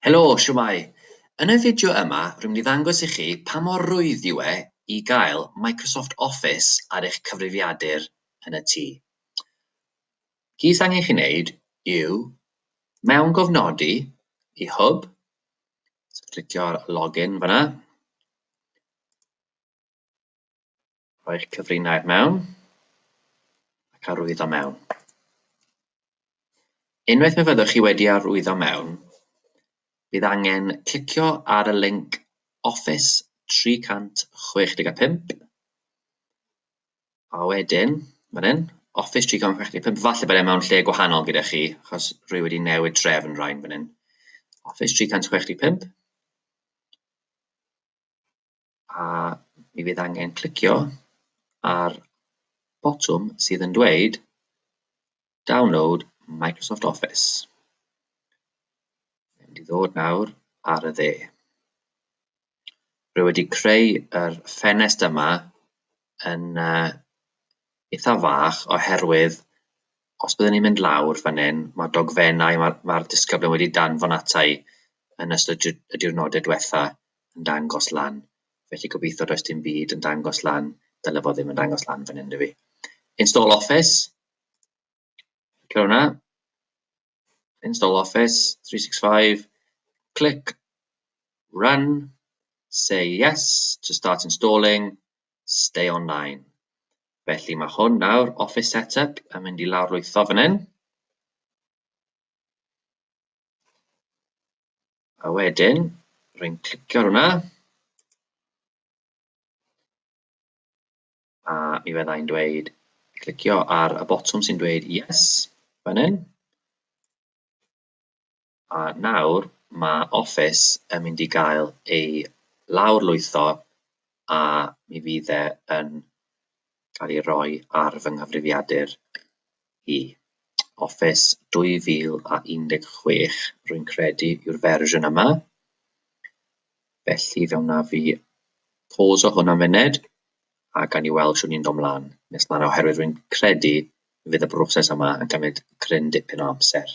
Helo, shwmae! Yn y fideo yma rwy'n mynd i ddangos i chi pa mor rwydd yw e i gael Microsoft Office ar eich cyfrifiadur yn y tŷ. Chi sy'n angen chi wneud yw mewn gofnodi i hwb, so clicio ar login fyna, Rhoi'r cyfrinair mewn ac arwyddo mewn. Unwaith fe fyddwch chi wedi arwyddo mewn, bydd angen clicio ar y linc Office 365, a wedyn, fan hyn, Office 365, falle bod e mewn lle gwahanol gyda chi, achos rwy wedi newid trefn rain fan hyn. Office 365. a mi fydd angen clicio ar botwm sydd yn dweud Download Microsoft Office. Mae'n mynd i ddod nawr ar y dde. Rwy wedi creu yr ffenest yma yn uh, eitha fach oherwydd Os byddwn ni'n mynd lawr fan hyn, mae'r dogfennau mae'r ma disgyblion wedi danfon ata i yn ystod y diwrnodau diwetha yn dangos lan. Felly gobeithio does dim byd yn dangos lan, dyle fod ddim yn dangos lan fan hyn, fi. Install Office. Cer hwnna. Install Office 365. Click Run. Say yes to start installing. stay online. Felly mae hwn nawr, Office Setup, yn mynd i lawrlwytho fan hyn. A wedyn, rwy'n clicio ar hwnna. A mi fyddai'n dweud, clicio ar y botwm sy'n dweud yes, fan hyn. A nawr mae Office yn mynd i gael ei lawrlwytho a mi fydd e yn cael ei roi ar fy nghyfrifiadur i. Office 2016 rwy'n credu yw'r fersiwn yma, felly fe wnaf i pôs o hwn am funud a gawn ni weld shwt ni'n dod 'mlan nes 'na oherwydd rwy'n credu y bydd y broses yma yn cymryd cryn dipyn o amser.